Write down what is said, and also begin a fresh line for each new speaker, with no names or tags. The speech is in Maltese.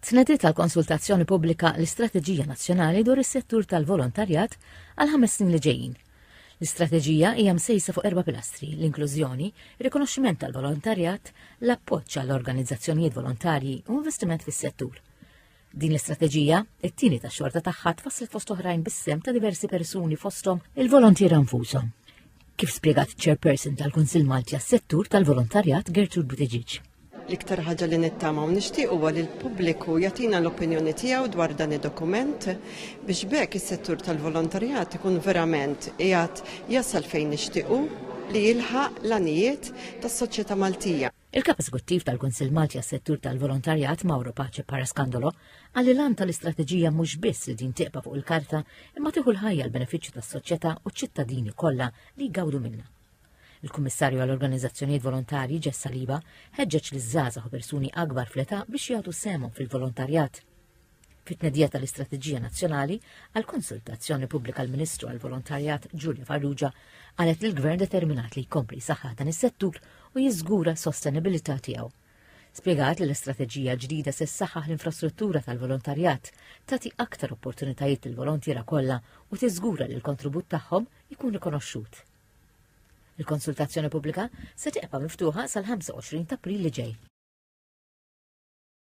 Tnediet għal konsultazzjoni pubblika l-istrateġija nazzjonali dwar is-settur tal-volontarjat għal ħames snin li ġejjin. L-istrateġija hija msejsa fuq erba' pilastri, l-inklużjoni, rikonoxximent tal-volontarjat, l-appoġġ għall organizzazzjonijiet volontarji u investiment fis-settur. Din l-istrateġija, it-tieni tax-xorta tagħha tfasslet fost oħrajn bis-sem ta' diversi persuni fosthom il-volontiera nfushom. kif spjegat ċ-Chairperson tal-Kunsill Malti għas-Settur tal-Volontarjat Gertrude Buttigieg. L-iktar ħaġa li
nittama u nixtieq huwa li l-pubbliku jagħtina l-opinjoni tiegħu dwar dan id-dokument biex bekk is-settur tal-volontarjat ikun verament qiegħed jasal fejn nixtiequ li jilħaq l-anijiet tas-soċjetà Maltija. Il-Kap Eżekuttiv
tal-Kunsill Malti għas-Settur tal-Volontarjat, Mauro Pace Parascandolo, qal li l-għan tal-istrateġija mhux biss li din tibqa' fuq il-karta imma tieħu l-ħajja l-benefiċċju tas-soċjetà u ċ-ċittadini kollha li jgawdu minnha. Il-Kummissarju għall-Organizzazzjonijiet Volontarji Jess Saliba ħeġġeġ liż-żgħażagħ u persuni akbar fl-età biex jagħtu sehemhom fil-volontarjat. fit-tnedija tal-Istrateġija Nazzjonali għal konsultazzjoni pubblika l-Ministru għal Volontarjat Ġulja Farrugia qalet li l-Gvern determinat li jkompli saħħa dan is-settur u jiżgura s-sostenibilità tiegħu. Spjegat li l-istrateġija ġdida se ssaħħaħ l-infrastruttura tal-volontarjat, tagħti aktar opportunitajiet lill volontiera kollha u tiżgura li l-kontribut tagħhom ikun rikonoxxut. Il-konsultazzjoni pubblika se tibqa' miftuħa sal-25 ta' April li ġej.